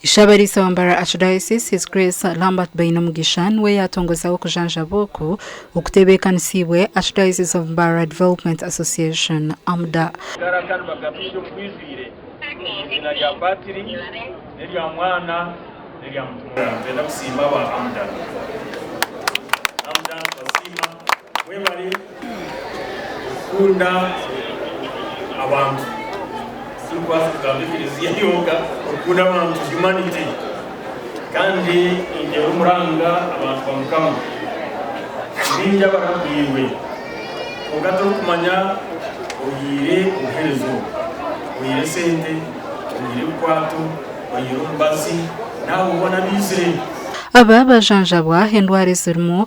Ishabariisa wa Mbarara Archdiocese His Grace Lambert Bainomugisha niwe yatongozaho okujanjaba oku okutebekanisiibwe Archdiocese of Mbarara Development Association, AMDA. Mwebare kukunda abantu. Titurikwasa kugamba ekereziya yonka kukunda abantu, humanity, kandi nindeeba omuranga abantu ba Mukama baingi abaragwirwe kwonka torikumanya oyiire obuherezo, oyiire sente, oyiire ebikwato, oyiire omubazi n'abo boona abaizire. Aba bajanjabwa endwara ezirimu.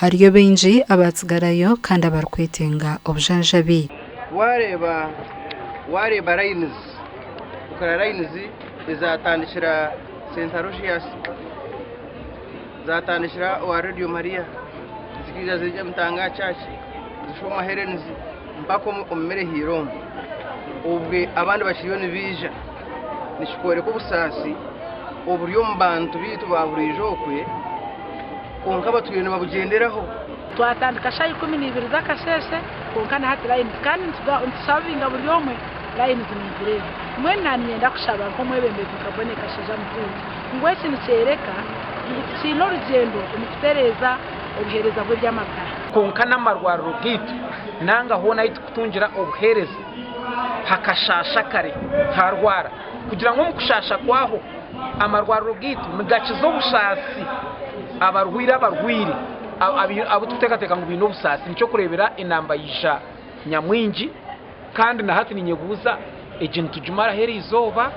Hariyo baingi abaatsigarayo kandi abarikwetenga obujanjabi. Waareeba waareeba layinizi, kukora layinizi ezaatandikira Saint Aloysius, zaatandikira owa Radio Maria, zikaija ziija Mutanga Church, Zishoma Helen's mpaka omu omu mireheire omu. Obwe abandi bakiriyo nibaija, nikikworeka obusaasi oburi omu bantu baitu ba buriijo okwe. Kwonka abatwire nibabugyenderaho. Twatandika shaaha ikumi na ibiri z'akasheeshe kwonka na hati layini kandi nitushavinga buri omwe layini zimaizire ebi. Mbwenu naaninyenda kushaba nk'omwebembezi nka Bonnie Kashaija Mutuuti ngu eki nikyoreka ngu tukiine orugyendo omu kutereeza obuheereza bw'eby'amagara. Kwonka n'amarwariro gaitu nanga hoona ahu turikutungira obuheereza hakashaasha kare harwara kugira ngu omu kushaasha kwaho Amarwariro gaitu nigakiza obusaasi abarwaire abarwaire abu turikuteekateeka ngu baine obusaasi. Nikyo kureebera enamba yaija nyamwingi kandi na hati ninyebuuza egyo nitugimaraho eri izooba?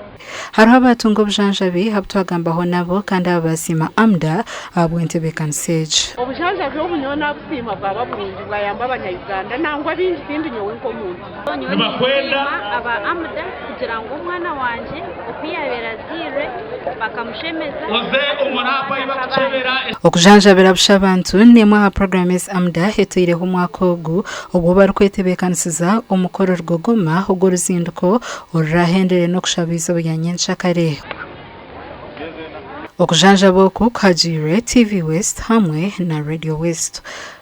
Hariho abaatunga obujanjabi abu twagambaho nabo kandi aba baasiima AMDA ahabw'entebeekanisa egi. Obujanjabi obu nyowe naabusiima bwaba burungi bwayamba Abanya-Uganda nangwa baingi tindi nyowe nk'omuntu. Nyowe ninsiima aba Amda kugira ngu omwana wangye oku yaabaire azairwe bakamushemeza n'okumushaaba. Okujanjabira busha abantu n'emwe aha puroguraamu ezi Amda etaireho omwaka ogu obu barikwetebeekanisiza omukoro Rugogoma ogw'oruzinduko oruraahenderere n'okushaba eizooba rya nyentsya kare. Okujanjaba oku kuhagiirwe TV West hamwe na Radio West.